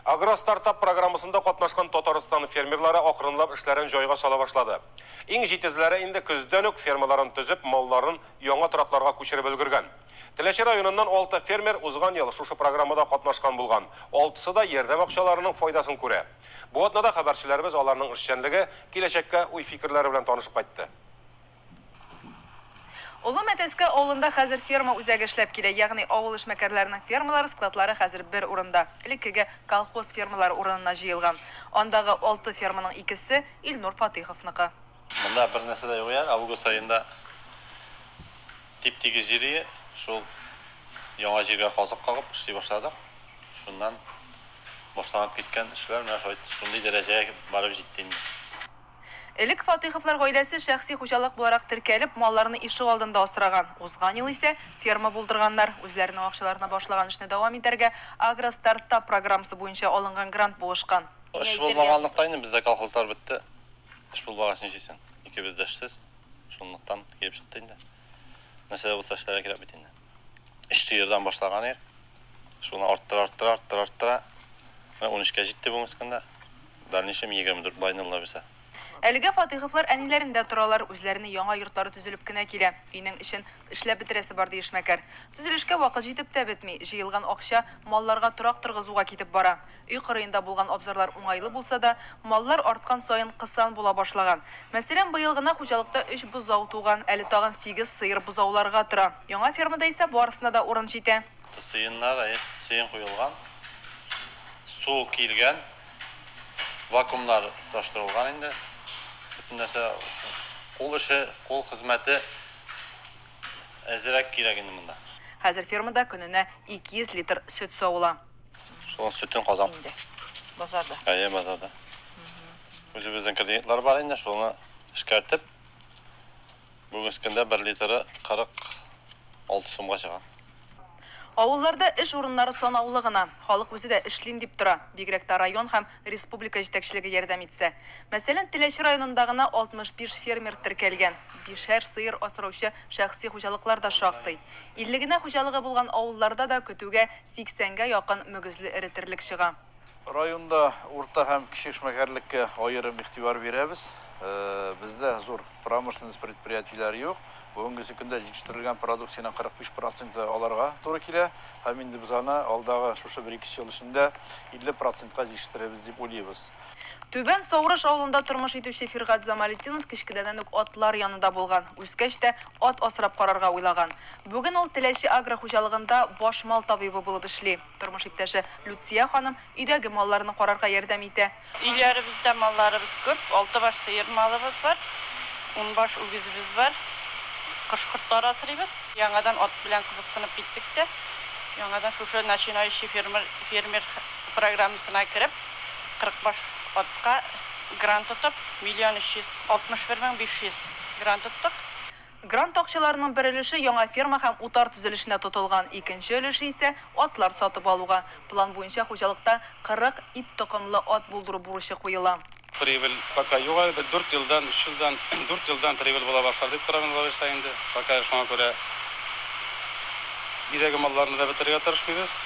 Агростартап программасында катнашкан Татарстан фермерлары акрынлап эшләрен җайга сала башлады. Иң җитезләре инде көздән үк фермаларын төзеп, малларын яңа торакларга күчереп өлгергән. Теләче районыннан алты фермер узган ел шушы программада катнашкан булган. Алтысы да ярдәм акчаларының файдасын күрә. Бу атнада хәбәрчеләребез аларның эшчәнлеге, киләчәккә уй-фикерләре белән танышып кайтты. Олы Мәтәскә авылында хәзер ферма үзәге эшләп килә, ягъни авыл эшмәкәрләренең фермалары, складлары хәзер бер урында, элеккеге колхоз фермалары урынына җыелган. Андагы алты ферманың икесе, Илнур Фатыйховныкы. Монда бер нәрсә дә юк иде, август аенда тип-тигез җир иде, шул яңа җиргә казык кагып эшли башладык, шуннан башланып киткән эшләр менә шулай шундый дәрәҗәгә барып җитте инде. Элек Фатыйховлар гаиләсе шәхси хуҗалык буларак теркәлеп, малларны ишегалдында асраган. Узган ел исә ферма булдырганнар. Үзләренең акчаларына башлаган эшне дәвам итәргә Агростартап программасы буенча алынган грант булышкан. Эш булмаганлыктан инде бездә колхозлар бетте. Эш булмагач нишлисең? Икебез дә эшсез. Шунлыктан килеп чыкты инде. Нәрсә дә булса эшләргә кирәк бит инде. 3 сыердан башлаган ир. Шуны арттыра, арттыра, арттыра, арттыра. Менә 13-кә җитте бүгенге көндә. Дальнейшем 24 байнылла үсә. Әлегә Фатыйховлар әниләрендә торалар, үзләренең яңа йортлары төзелеп кенә килә. Өйнең эчен эшләп бетерәсе бар, ди эшмәкәр. Төзелешкә вакыт җитеп тә бетми. Җыелган акча малларга торак торгызуга китеп бара. Өй кырыенда булган абзарлар уңайлы булса да, маллар арткан саен кысан була башлаган. Мәсәлән, быел гына хуҗалыкта өч бозау туган, әле тагын сигез сыер бозауларга тора. Яңа фермада исә барысына да урын җитә. Сыеннар, әйе, сыен куелган. Су килгән, вакуумнар тоташтырылган инде. Бөтен нәрсә, кул эше, кул хезмәте әзрәк кирәк инде монда. Хәзер фермада көненә 200 литр сөт савыла. Шул сөтен казан. Инде. Базарда. Әйе, базарда. Үзебезнең клиентлар бар инде, шуны эшкәртеп, бүгенге көндә 1 литры 46 сумга чыга. Авылларда эш урыннары санаулы гына. Халык үзе дә эшлим дип тора, бигрәк тә район һәм республика җитәкчелеге ярдәм итсә. Мәсәлән, Теләче районында гына 65 фермер теркәлгән. Бишәр сыер асраучы шәхси хуҗалыклар да шактый. 50 генә хуҗалыгы булган авылларда да көтүгә Сиксәнгә якын мөгезле эретерлек чыга. Районда урта һәм кече эшмәкәрлеккә аерым игътибар бирәбез. Бездә зур промышленность предприятиеләре юк. Бүгенгесе көндә җитештерелгән продукциянең 45 проценты аларга туры килә һәм инде без аны алдагы шушы бер-ике ел эчендә 50 процентка җитештерербез дип уйлыйбыз. Түбән Саурыш авылында тормыш итүче Фиргать Замалетдинов кечкенәдән үк атлар янында булган, үскәч тә ат асрап карарга уйлаган. Бүген ул Теләче агрохуҗалыгында баш мал табибы булып эшли. Тормыш иптәше Люция ханым өйдәге малларны карарга ярдәм итә. Өйләребездә малларыбыз күп, алты баш сыер малыбыз бар, унбаш үгезебез бар. Кош-кортлар асрыйбыз. Яңадан ат белән кызыксынып киттек тә, яңадан шушы начинающий фермер фермер программасына кереп, Кырык баш атка грант тотып, миллион өч йөз алтмыш бер мең биш йөз грант тоттык. Грант акчаларының бер өлеше яңа ферма һәм утар төзелешенә тотылган, икенче өлеше исә, атлар сатып алуга. План буенча хуҗалыкта 40 ит токымлы ат булдыру бурычы куела. Прибыль пока юк әле, бер дүрт елдан, өч елдан, дүрт елдан прибыль була башлар дип торабыз Лариса инде. Пока шуңа күрә, өйдәге малларны да бетерергә тырышмыйбыз.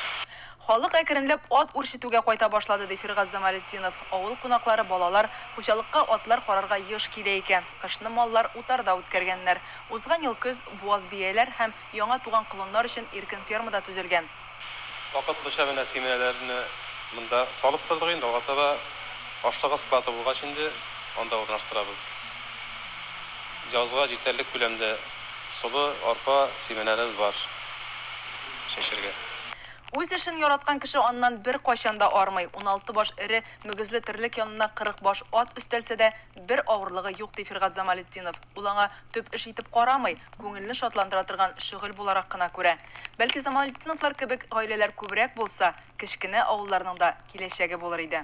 Халык әкренләп ат үрчетүгә кайта башлады, ди Фиргаз Замалетдинов. Авыл кунаклары, балалар, хуҗалыкка атлар карарга еш килә икән. Кышны маллар утарда үткәргәннәр. Узган ел көз буаз бияләр һәм яңа туган колыннар өчен иркен ферма да төзелгән. Вакытлыча менә симияләрне монда салып тордык, инде алга таба ашлыгы склады булгач инде анда урнаштырабыз. Язга җитәрлек күләмдә солы, арпа симияләребез бар чәчәргә. Үз эшен яраткан кеше аннан беркайчан да армый. Уналты баш эре мөгезле терлек янына кырык баш ат өстәлсә дә, бер авырлыгы юк, ди Фиргат Замалетдинов. Ул аңа төп эш итеп карамый, күңелне шатландыра торган шөгыль буларак кына күрә. Бәлки Замалетдиновлар кебек гаиләләр күбрәк булса, кечкенә авылларның да киләчәге булыр иде.